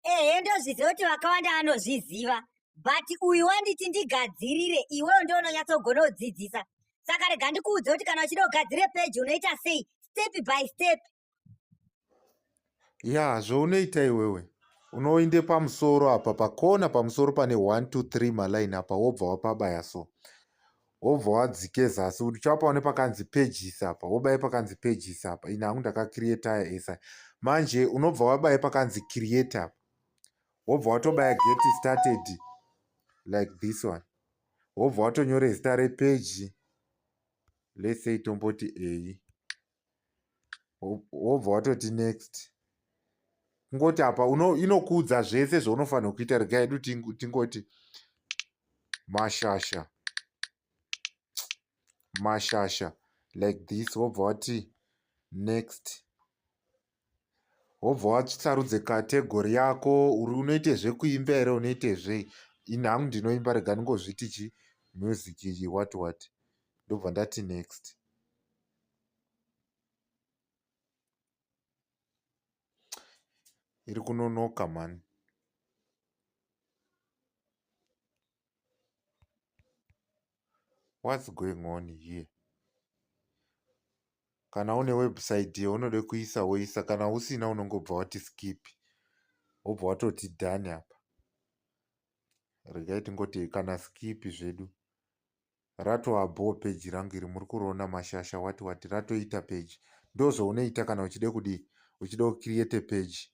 ehe ndozviziva kuti vakawanda vanozviziva but uyu wanditi ndigadzirire iwewo ndo unonyatsogona kudzidzisa saka rega ndikuudze kuti kana uchida kugadzire peji unoita sei step by step ya zvounoita iwewe unoinde pamusoro apa pakona pamusoro pane 1 2 3 maline apa wobva wapabaya so wobva wadzike zasi kuti chapaone pakanzi pages apa wobaye pakanzi pages apa ini hangu ndakacreataya esa manje unobva wabaye pakanzi create apa wobva watobaya get started like this one wobva watonyore zita repeji let's say tomboti eyi wobva watoti next kungoti apa inokuudza zvese zvaunofanirwa kuita rega yedu tingoti mashasha mashasha like this wobva wati next Wobva wasarudza category yako unoita zvekuimba here unoita zvei ini hangu ndinoimba rega ndingozviti chii music iyi what what ndobva ndati next iri kunonoka mhani what's going on here kana une website yaunode kuisa woisa kana usina unongobva wati skip wobva watoti done apa regai tingoti kana skip zvedu ratoabhoo peji rangu iri muri kuriona mashasha wati wati ratoita peji ndozvounoita kana uchide kudii uchide kucreate peji